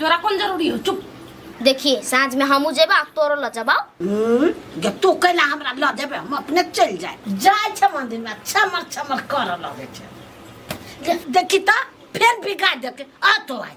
तोरा कौन जरूरी हो चुप देखिए साँझ में हमू जेबा तोरो ल जबा जे तू कैला हमरा ल देबे हम अपने चल जाए जाए छ मंदिर में छमर छमर कर लगे छ दे- देखी त फेर बिगाड़ देते आ तो आज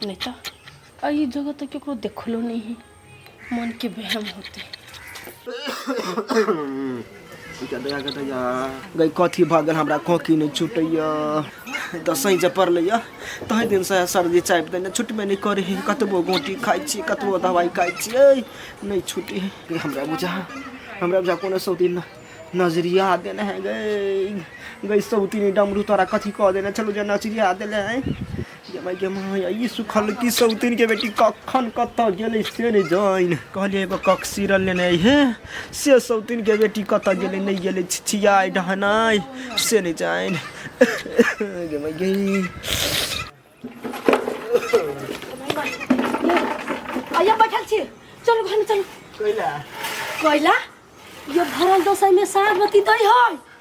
नहि तऽ एहि जगह तऽ ककरो देखलो नहि है मोनके बहम होतै गई कथी भऽ गेल हमरा खोकी नहि छुटैया दसैँ जे पड़लैया तहि दिनसँ सर्दी चापि देने छुटबे नहि करै है कतबो गोटी खाइ छी कतबो दवाइ खाइ छियै नहि छुटै है हमरा बुझा हमरा बुझा कोनो सौती नजरिया देने है गई गई सौती डमरू तोरा कथी कह देने चलो जे नजरिया देने है ये माय गे माय ई सुखल की सौतीन के बेटी कखन कतऽ गेलै से नहि जाइन कहलियै एगो कक सीरल लेने हे से सौतीन के बेटी कतऽ गेलै नहि गेलै छिछियाइ ढहनाइ से नहि जाइन गे माय गे आइया बैठल छी चलू घर में चलू कोइला कोइला ये भरल दोसर में साग बती दै है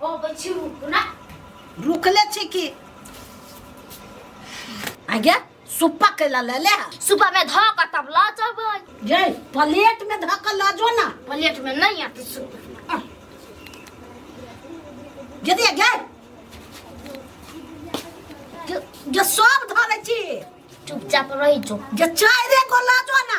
अबै छी रुक ना रुकले छी कि आगे सुप्पा कैला ले ले सुबह में धो के तब ला जबै ये प्लेट में धऽ कऽ लऽ जो ना प्लेट में नहीं आते सुबह यदि आगे जे सब धरे छी चुपचाप रही जो जे चाय रे को लऽ जो ना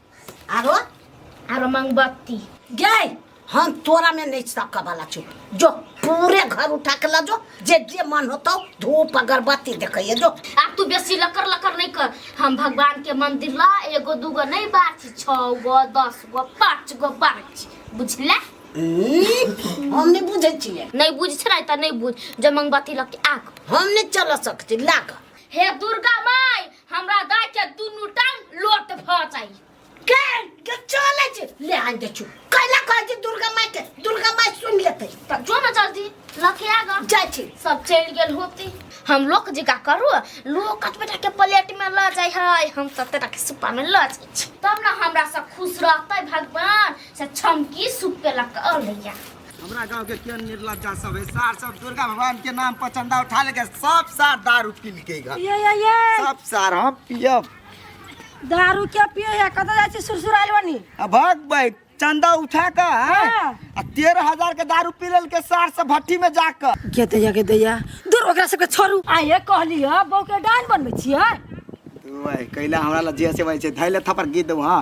आरो आरो मंगबत्ती गई हम तोरा में नहीं सकऽ वाला छो जो पूरे घर उठा के ला जो जे जे मन होतो धूप अगरबत्ती देखैया जो आ तू बेसी लकर लकर नहीं कर हम भगवान के मंदिर ला एगो दूगो नहीं बात छो गो दस गो पाँच गो बात बुझला हम्म, हम नहीं बुझे छिए नहीं बुझ छै नहीं त नहीं बुझ जब मंगबत्ती लग के आग हम नहीं चल सकती लाग हे दुर्गा माई हमरा दाय के दुनू टांग लोट भ जाई के के चले छी ले आन दे छु कैला कह जे दुर्गा माई के दुर्गा माई सुन लेते त जो न जल्दी लके आ ग जाय छी सब चल गेल होती हम लोक जिका करू लोक बेटा के प्लेट में ल जाय है हम सब तेरा के सुपा में ल जाय छी तब ना हमरा सब खुश रहते भगवान से छमकी सुप के लक अलिया हमरा गाँव के केहन निर्लज्जा सब है सार सब दुर्गा भगवान के नाम पर चंदा उठा लेके सब सार दारू पी लेके घर ये ये ये सब सार हम पियब दारू के पिए है कतऽ जाइ छी सुरसुराल बनी आ भाग भाई चंदा उठा के हैं? हाँ। आ तेरह हजार के दारू पी लेके सार सब भट्टी में जाकर के दैया के दैया दूर ओकरा सबके छोड़ू आइए कहली है बहू के डान बनबै छियै भाई कैला हमरा ला जे से भाई छै धैले थपर गीत दो हाँ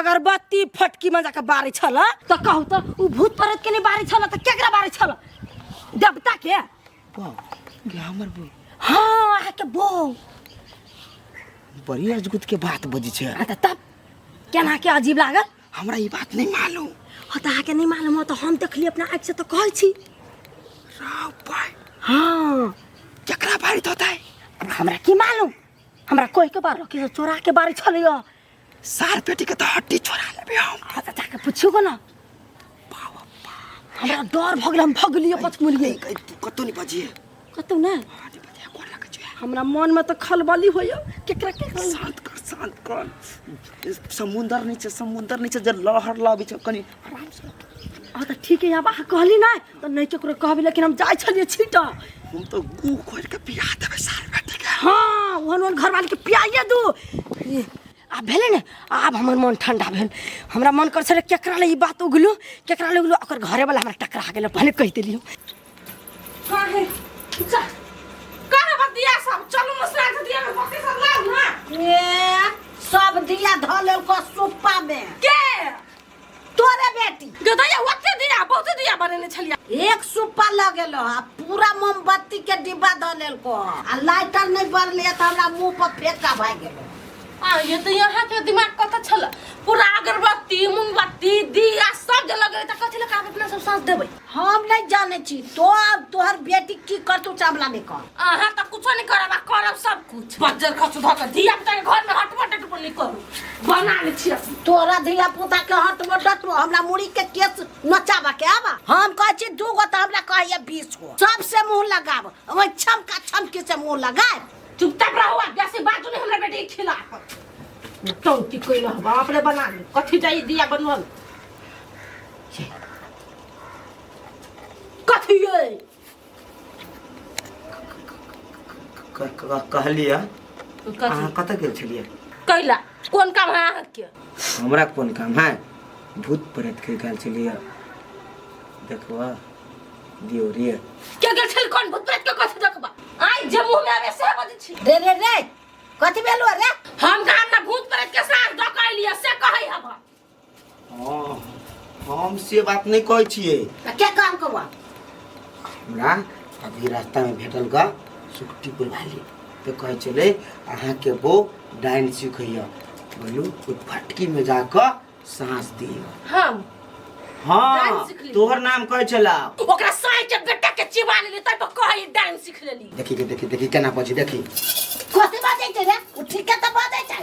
अगरबत्ती फटकी में जाके बारे छल तो कहू तो उ भूत प्रेत के नहीं बारे छल तो केकरा बारे छल देवता के वाह क्या हमर बो हाँ अहाँ के बो बड़ी अजगुत के बात बजी छे आ त तब केना के अजीब लागल हमरा ई बात नहीं मालूम हो त अहाँ के नहीं मालूम हो तो हम देखली अपना आँख से तो कहै छी राव भाई हाँ जकरा बारित होता है अब हमरा की मालूम हमरा कोई के बार के चोरा के बारे छल सार पेटी के तो हड्डी छोड़ा लेबे हम आ त जाके पूछियो को ना हमरा डर भगल हम भगलियो पचमुलिए कहीं तू कतो नहीं बजिए कतौ ना हाँ नहीं बजिए कौन लगे जो है हमरा मन में तो खलबली होयो केकरा के खल- शांत कर शांत कर समुंदर नीचे समुंदर नीचे जे लहर लाबी छ कनी आराम से आ तऽ ठीक है आबा कहली ना तो नहीं केकरो कहबी लेकिन हम जाय छलिए छीटा हम तो गू खोल के पिया देबे सार बेटी के हाँ ओहन ओहन घर वाली के पियाइए दू ई, आब भेलै ने आब हमर मन ठंडा भेल हमरा मन कर छलै केकरा ले ई बात उगलू केकरा ले उगलू ओकर घरे वाला हमरा टकरा गेल भने कहि देलियो काहे जा काहे बतिया सब चलू मसरा के दिया में बकरी सब लाग ना ए सब दिया धऽ लेल को सुप्पा में के तोरे बेटी गदैया ओते दिया बहुते दिया बनेने छलिया एक सुपर लग गेलो आ पूरा मोमबत्ती के डिब्बा द लेलको आ लाइटर नहीं बरले त हमरा मुंह पर फेंका भए गेलो आ ये तो यहाँ के दिमाग कत छल पूरा अगरबत्ती मोमबत्ती दिया सब जल गए त कथि लगा अपना सब साथ देबै हम नहीं जाने छी तो अब तोहर बेटी की करतू चावला में कर अहाँ तऽ कुछो नहि करब आ करब सब कुछ बज्जर खसु धऽ कऽ धिया पुता घर में हटबो डटबो नहि करू बना लै छी अपने। तोरा धिया पुता के हट मोटत हमरा मुड़ी के केस नचाबा के आबा हम कहे छी दू गो तऽ हमरा कहैया बीस गो सबसे मुंह लगाब ओहि छमका छमकी से मुंह लगाब चुपचाप रहू आ बेसी बाजू नहि हमरा बेटी के खिलाफ टौटी कोइल बाप रे बना लै कथी जाइ दिया बनबल कथी है क- क- कहलिए अहाँ कतऽ गेल छलियै कैला कोन काम है अहाँके हमरा कोन काम है भूत प्रेत के गेल छलियै देखबऽ दियौ रे के गेल छल कोन भूत प्रेत के कथी देखबा आइ जे मुंह में आवे से बजै छी रे रे रे कथी भेलौ रे हम कहाँ ना भूत प्रेत के साथ डकैलिए से कहै हब हाँ हम से बात नहीं कहै छियै आ क्या काम कबा हमरा अभी रास्ता में भेटल गा सुक्ति बुलवाली तो कहै छलै अहाँके बो डाइन सिखैया बोलू ओहि फटकी में जाकऽ साँस दियौ हम डाइन हाँ सिखली? तोहर नाम कहै छला ओकरा साई के बेटा के चिबा लेली तै पर कहै डांस सीख लेली देखी के देखी देखी केना बजी देखी कथी बाजै छै रे ओ ठीके तऽ बाजै छै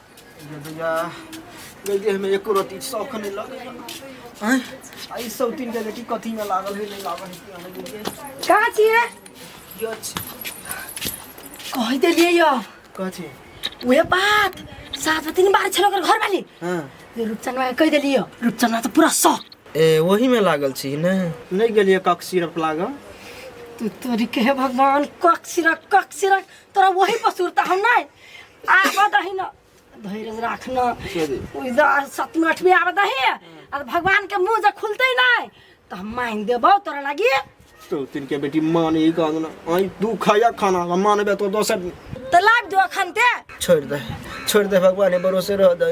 गैया एको रति शौक नहि लगैया आई सब तीन के बेटी कथी में लागल है नहीं लागल है कहाँ छी है यच कह दे लिए यो कथी उहे बात सात में तीन बार छलो कर घर वाली हां ये रूपचंद भाई कह दे लिए रूपचंद तो पूरा सौ ए वही में लागल छी ने नहीं गेलिए कक सिरप लागल तू तोरी के भगवान कक सिरक कक सिरक तोरा वही पर सुरता हम नहीं आबऽ दही न धैर्य राख न इधर सतमी अठमी आबऽ दही आ भगवान के मुंह जे खुलते नहीं तो हम मान देबो तोरा लगी तो तीन के बेटी मान ही कहूँ ना आई तू खाया खाना हम मानबे तो दोसर तो लाग जो अखन ते छोड़ दे छोड़ दे भगवान के भरोसे रह दे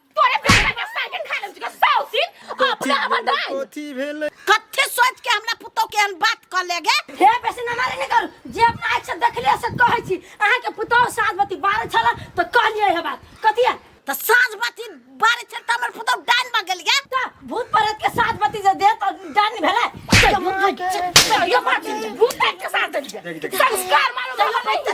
तोरे बेटा के साइकिल खा लेम के सौ दिन अपना हमर दाई कथी भेल कथी सोच के हमरा पुतो के हम बात कर लेगे हे बेसी ना मारे कर जे अपना आँख से देखलिए से कहै छी अहाँ के पुतो साँझ बती बारह छला तो कहलिए हे बात कथी है तो साँझ बती बारह छल तो हमर पुतो डाइन में गेल गे तो भूत प्रेत के साँझ बती जे दे तो डाइन भेले ये बात भूत के साथ संस्कार मानो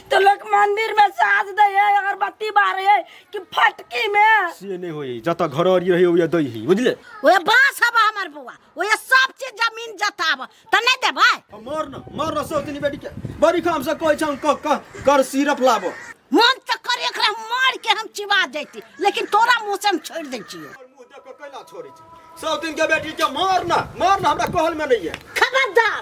तो लोग मंदिर में साज दे है अगरबत्ती बारे है कि फटकी में से नहीं होई जत घर और रही होई दई ही बुझले ओए बास हब हमर बुआ ओए सब चीज जमीन जताब त नहीं देबै मर न मर न सोतनी बेटी के बड़ी काम से कोई छन क क कर सिरप लाबो मन त करे एकरा मार के हम चिबा देती लेकिन तोरा मुंह से हम छोड़ दै छियो मुंह देख के कैला छोड़ी छै सोतिन के बेटी के मर न मर न हमरा कहल में नहीं है खबरदार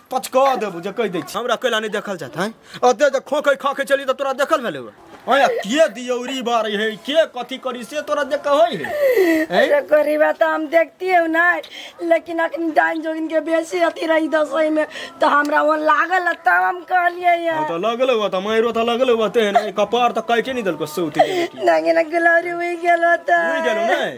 पचका देबो जे कहि दै छी हमरा कैला नहि देखल जात हैं अते जे खोखै खाखै चली तऽ तोरा देखल भेलै ओए अया के दियौरी बारै है के कथी करी से तोरा देख के होइ है हैं अरे गरीबा तो हम देखती हूँ ना लेकिन अखन डाइन जोगिन के बेसी अथी रही दसई में तो हमरा वो लागल है, तब हम कहलिए ये हम तऽ लगले हुआ तऽ माइरो तऽ लगले हुआ तेहन कपार तऽ काटि नहि देलको सौती नहि ना गुलौरी हुई गेलो तो उड़ि गेलो नहि